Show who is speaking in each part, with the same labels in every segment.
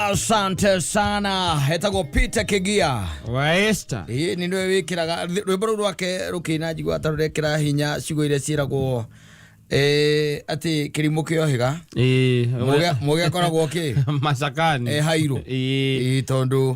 Speaker 1: asante sana etagwo peter kigia waesta
Speaker 2: ĩĩ nĩ nĩwe wĩkĩraga
Speaker 1: thĩ- rwĩmbo rũu rwake rũkĩina njigua atarũrekĩra hinya cigo iria ciĩragwo eh, atĩ kĩrimũ kĩohĩga Mũgĩ- mũgĩ akoragwo kĩ macakani Eh,
Speaker 2: hairũ Ĩĩ.
Speaker 1: Ĩĩ, tondũ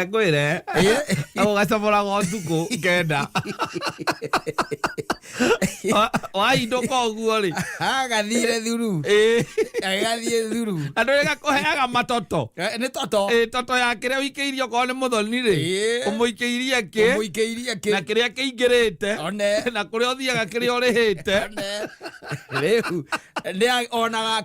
Speaker 2: ekwire agugacamũraga ũtukũ ngenda waindũka ũguo rĩ agathire thuru
Speaker 1: Ĩĩ. agathiĩ thuru andũ nĩ gakũheaga
Speaker 2: matoto Eh, nĩ toto Ĩĩ,
Speaker 1: toto ya kĩrĩa
Speaker 2: ũikĩirie okorwo nĩ mũthoni rĩ Ĩĩ. ũmũikĩirie kĩ mũikĩirie na kĩ kĩrĩa kĩingĩrĩte one na kũrĩa ũthiaga kĩrĩa ũrĩhĩte one
Speaker 1: rĩu nĩ onaga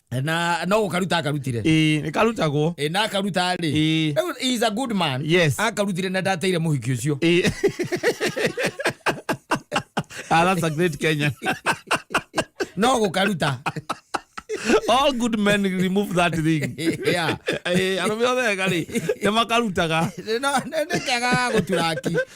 Speaker 1: na no gukaruta akarutire ĩĩ nĩ karutagwo
Speaker 2: Eh, na akaruta rĩ
Speaker 1: Ĩĩ. Rĩu he is a good man Yes. akarutire na ndateire mũhiki ũcio ĩĩ
Speaker 2: Ah, that's a great Kenyan.
Speaker 1: no gukaruta
Speaker 2: All good men remove that thing. Yeah.
Speaker 1: Eh, arũme othe
Speaker 2: ega rĩ nĩ makarutaga no nä
Speaker 1: kega gå turaki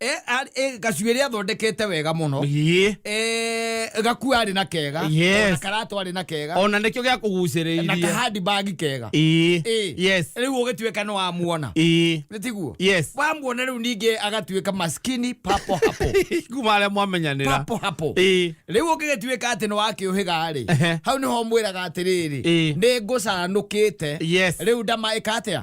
Speaker 1: Eh, ar- eh, gacuĩrĩ athondekete wega mũno Ĩĩ. Eh, gaku arĩ na kega Yes. ona karato arĩ na kega ona nĩkĩo gĩa na kũgucĩrĩirie
Speaker 2: kahandi bagi
Speaker 1: kega Ĩĩ. Ĩĩ. yes rĩu ũgĩtuĩka nĩ wamuona Ĩĩ. nĩ tiguo yes wamuona rĩu ningĩ agatuĩka maskini papo hapo kuma arĩa
Speaker 2: mwamenyanĩra papo hapo Ĩĩ.
Speaker 1: rĩu ũngĩgĩtuĩka atĩ nĩ wakĩũhĩga-rĩ Ehe. hau nĩho mwĩraga atĩrĩrĩ Ĩĩ. nĩ ngũcanũkĩte Yes. rĩu ndamaĩka atĩa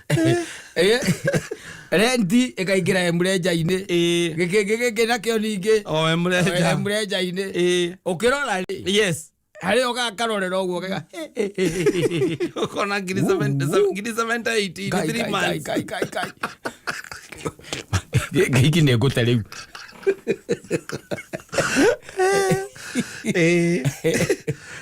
Speaker 1: Eh, renti ĩkaingĩra emrenja-inĩ Ĩĩ. gĩkĩngĩ gĩkĩ nakĩo ningĩ o emrenja emrenja-inĩ Ĩĩ. ũkĩrora rĩ yes harĩ
Speaker 2: oga
Speaker 1: karorera ũguo gega
Speaker 2: ukona ngiri seven- se- ngiri 78 in three
Speaker 1: months gĩkĩ nĩ ngũte rĩu Ĩĩ.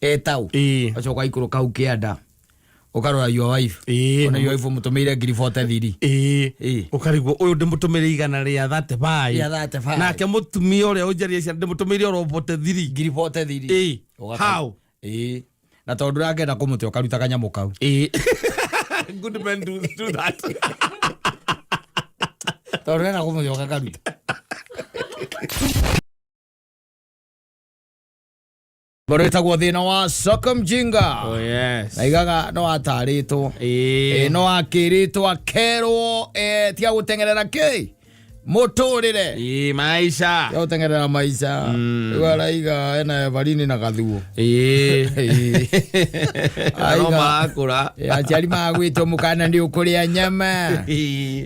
Speaker 1: etau Ĩĩ. acoka ikuru kau kianda ukarora your wife Ĩĩ. ona your wife mutumire ngiri 40 thiri Ĩĩ. Ĩĩ. ukarigwo uyu
Speaker 2: ndimutumire igana ria 35 Rĩa 35. nake mutumia uria unjaria ciana ndimutumire oro bote thiri ngiri 40 thiri Ĩĩ.
Speaker 1: Ũgaka- How?
Speaker 2: Ĩĩ. na
Speaker 1: tondu rangenda kumuti ukaruta kanyamu kau Ĩĩ.
Speaker 2: good men do, do that
Speaker 1: tondu renda kumuti ukakaruta ngoro ĩtagwo thĩna wa soko mjinga Oh, yes. naigaga
Speaker 2: no
Speaker 1: atarĩtwo Eh. Ĩ, no akĩrĩtwo akerwo eh, tiga gũteng'erera kä mũtũrĩre Eh, maisha. tiga gũteng'erera
Speaker 2: maica
Speaker 1: Mm. rĩu araiga ena evarini na gathuo Eh. Ĩ.
Speaker 2: Aroma akũra. Eh, aciari magwĩtwo
Speaker 1: mũkana nĩ ũkũrĩa nyama Eh.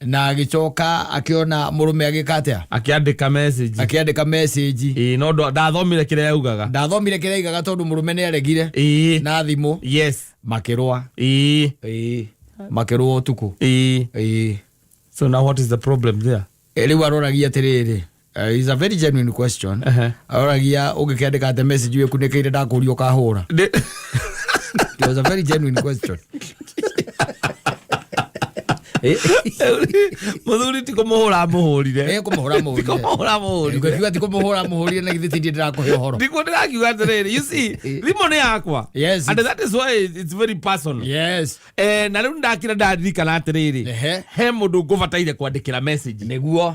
Speaker 1: na agĩcoka akĩona mũrũme agĩka atĩa akĩandĩka message
Speaker 2: akĩandĩka message ĩĩ no ndwa- ndathomire kĩrĩa yaugaga ndathomire kĩrĩa aigaga tondũ mũrũme nĩ aregire ĩĩ na thimũ yes makĩrũa ĩĩ Ĩĩ. makĩrũa ũtukũ ĩĩ Ĩĩ. so now what is the problem there Eh, rĩu aroragia
Speaker 1: atĩrĩrĩ Uh, is a very genuine question Ehe. aragia ũngĩkĩandĩka ate message iwe kunĩkĩire ndakũria ũkahũra Ndĩ- it was a very genuine question
Speaker 2: Eh, mũthuri ti kũmũhũra mũhũrire eh kũmũhũra mũhũrire kũmũhũra
Speaker 1: mũhũrire ngĩkiuga ti kũmũhũra mũhũrire na githĩ tindĩ ndĩrakũhe ũhoro ndikuo ndĩrakiuga atĩrĩrĩ
Speaker 2: you see thimũ nĩ yakwa Yes, and it's- that is why it's very personal yes Eh, na rĩu ndakira ndaririkana atĩrĩrĩ Ehe. he mũndũ ngũbataire kwandĩkĩra message nĩguo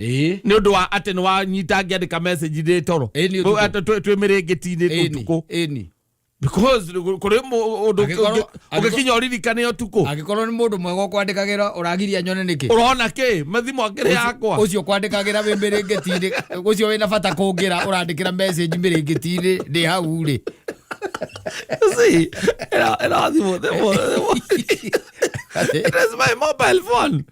Speaker 2: ĩĩ nä å ndå wa atä nä wanyita ngä andä ka ndä toro Ĩĩ, nĩ ũtukũ. twä mä rä ngä tinä ĩni tukå ĩni kå rä å ndå Angĩkorwo- å gä kinya å ririkane å tukå angĩkorwo nĩ mũndũ mwega
Speaker 1: ũkwandĩkagĩra ũragiria nyone nĩkĩ ũrona kä mathimo
Speaker 2: akä rä yakwa ũcio kwandĩkagĩra wĩ
Speaker 1: mĩrĩngĩti-inĩ ũcio wĩna bata kũngĩra ũrandĩkĩra message mĩrĩngĩti-inĩ ndĩ hau rĩ
Speaker 2: See, era- era thimũ- thimũ- thimũ. It is my mobile phone.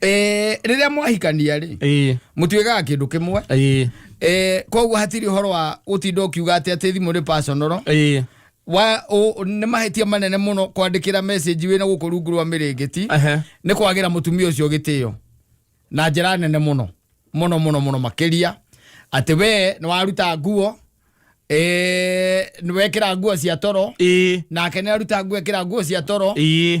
Speaker 1: Eh, rĩrĩa mwahikania rĩ ĩĩ mũtuĩkaga kĩndũ kĩmwe ĩĩ Eh, koguo hatirĩ ũhoro wa gũtinda ũkiuga atĩ atĩ thimũ nĩ personal ĩĩ wa ũ- nĩ mahĩtia manene mũno kwandĩkĩra message wĩna gũkũ rungu rwa mĩrĩngĩti Ehe. nĩ kwagĩra mũtumia ũcio gĩtĩo na njĩra nene mũno mũno mũno mũno makĩria atĩ we nĩ waruta nguo eh, nĩ wekĩra nguo cia toro ĩĩ nake nĩ aruta nguo ekĩra nguo cia toro ĩĩ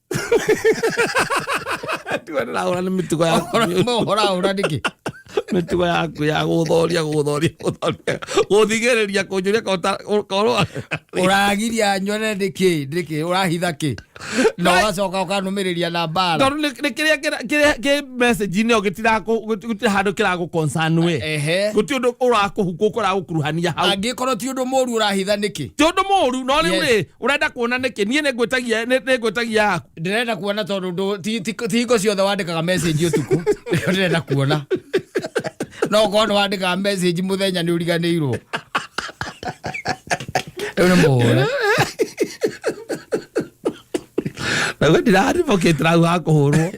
Speaker 2: Ndĩraũra nĩ mĩtugo ya Ũhora ũhora nĩkĩ?
Speaker 1: mĩtugo
Speaker 2: yaku ya gũthoria gũthoria gũthoria gũthigĩrĩria kũnjũria korwo Ũragiria
Speaker 1: nyone nĩkĩ? Nĩkĩ? Ũrahitha kĩ? Na ũgacoka ũkanũmĩrĩria na mbara. tondũ nĩ nĩ kĩrĩa
Speaker 2: kĩra- kĩrĩa- kĩ message-inĩ ĩyo gĩtirakũ- gũti- gũtirĩ handũ kĩragũ concern we Ehe. gũtirĩ ũndũ ũrakũhukwo kũragũkuruhania hau Angĩkorwo ti ũndũ mũru
Speaker 1: ũrahitha nĩkĩ? ti ũndũ mũru no rĩu
Speaker 2: Yes. rĩ urenda kuona niki nie ningwitagia ningwitagia yaku ndĩrenda kuona tondũ ndũ-
Speaker 1: ti- ti ti hingo ciothe wandĩkaga message ũtukũ nĩkĩo ndĩrenda kuona no korwo nĩ wandĩkaga message mũthenya nĩ ũriganĩirwo rĩu nĩ mũhũre
Speaker 2: naguo ndiraribokĩtira hau hakũhũrwo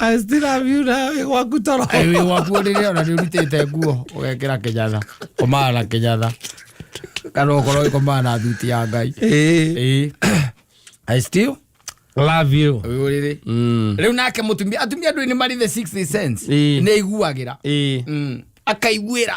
Speaker 2: I still have you na wĩ gwaku toro Ĩ, wĩ waku rĩrĩa ona
Speaker 1: nĩ ũrutĩte nguo ũgekĩra kĩnyatha komaa na kĩnyatha kana ũkorwo ĩkomaa na thuti ya ngai Ĩĩ. Ĩĩ. I still love you
Speaker 2: ũyũ rĩrĩ Mm.
Speaker 1: rĩu nake mũtumia atumia ndũĩ nĩ marĩ the 60 cents Ĩĩ. nĩ aiguagĩra Ĩĩ. Mm. akaiguĩra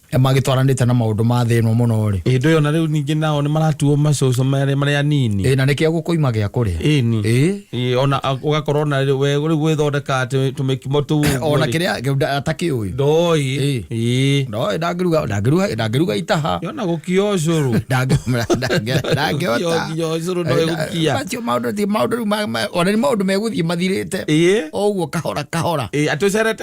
Speaker 1: magĩtwaranĩte na maũndũ ma thĩ ĩno mũno rĩ ĩndĩ ĩyo na rĩu ningĩ nao
Speaker 2: nĩ maratuo macoco marĩa marĩa anini ĩ na nĩkĩo gũkũima gĩa
Speaker 1: kũrĩa ĩni ĩ Ĩ, ona
Speaker 2: a- ũgakorwo na rĩ- we rĩu gwĩthondeka atĩ tũmĩkimo tũu ũguo ona rĩ, kĩrĩa kĩu nda-
Speaker 1: atakĩũĩ ndoĩ Ĩ. Ĩ.
Speaker 2: no ndangĩruga ndangĩruga
Speaker 1: ndangĩruga itaha yona gũkia ũcũrũ
Speaker 2: ndangĩhota Nginya
Speaker 1: ũcũrũ ndoĩ gũkia.
Speaker 2: macio maũndũ ti maũndũ
Speaker 1: rĩu ma- ma- ona nĩ maũndũ megũthiĩ mathirĩte ĩĩ o ũguo kahora kahora Ĩ, atĩ ũcerete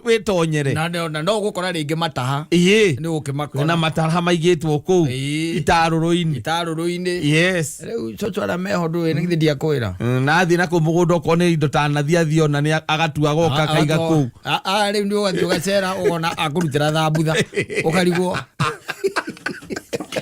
Speaker 2: wĩtonyere na na- na no gũkora
Speaker 1: rĩngĩ mataha ĩĩ nĩ na gũkĩmakora matara maigĩtwo
Speaker 2: kũu Ĩĩ. itarũrũ-inĩ itarũrũ-inĩ yes rĩu coco
Speaker 1: arĩa meho ndũĩ nĩ githĩ ndiakwĩra Mm, na athiĩ na kũu mũgũnda
Speaker 2: okorwo nĩ indo tanathiathi ona nĩ agatua goka kaiga kũu Ah, ah, rĩu nĩ ũgathiĩ
Speaker 1: ũgacera ũgona akũrutĩra thambutha ũkarigwo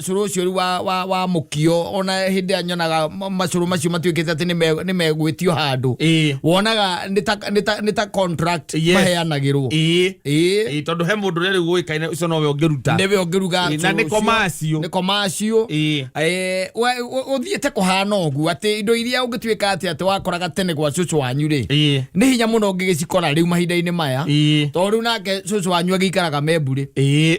Speaker 1: cũrũ ũcio rĩu wa, wa, wa mũkio ona hĩndĩ ĩrĩa nyonaga ma- macũrũ macio matuĩkĩte atĩ nĩme- nĩmegwĩtio handũ Ĩĩ. wonaga nĩ ta- nĩ ta- nĩ ta contract Yes. maheanagĩrwo ĩĩ Ĩĩ. Ĩĩ,
Speaker 2: tondũ he mũndũ ũrĩa rĩu ũĩkaine ũcio nowe ũngĩruta nĩwe ũngĩruga Ĩĩ, na
Speaker 1: nĩ commercial.
Speaker 2: nĩ komacio Ĩĩ.
Speaker 1: ũthiĩte kũhana ũguo atĩ indo iria ũngĩtuĩka atĩ atĩ wakoraga tene gwa cũcũ wanyu rĩ Ĩĩ. nĩ hinya mũno ũngĩgĩcikora rĩu mahinda-inĩ maya Ĩĩ. tondũ rĩu nake cũcũ wanyu agĩikaraga memburĩ Ĩĩ.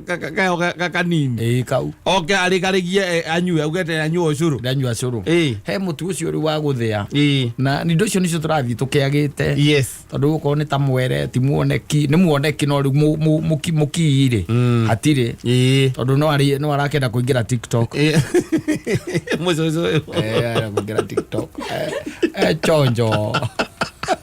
Speaker 2: kayo gakanini ĩĩ kau oke
Speaker 1: arĩkarĩgie eh,
Speaker 2: anyue augete anyue ũcũrũ ndanyua cũrũ Ĩĩ. he
Speaker 1: mũtu ũcio rĩu wa gũthĩa Ĩĩ. na indo icio nĩcio tũrathiĩ tũkĩagĩte yes tondå okorwo nä ta mwere ti muoneki nä muoneki no rä u må kii rä Mm. hatirä Ĩĩ. tondå no arä- no arakenda kå ingä ra tiktok Ĩĩ. mũcũcũ ũyũ. Eh, arakũingĩra TikTok. Eh, eh, chonjo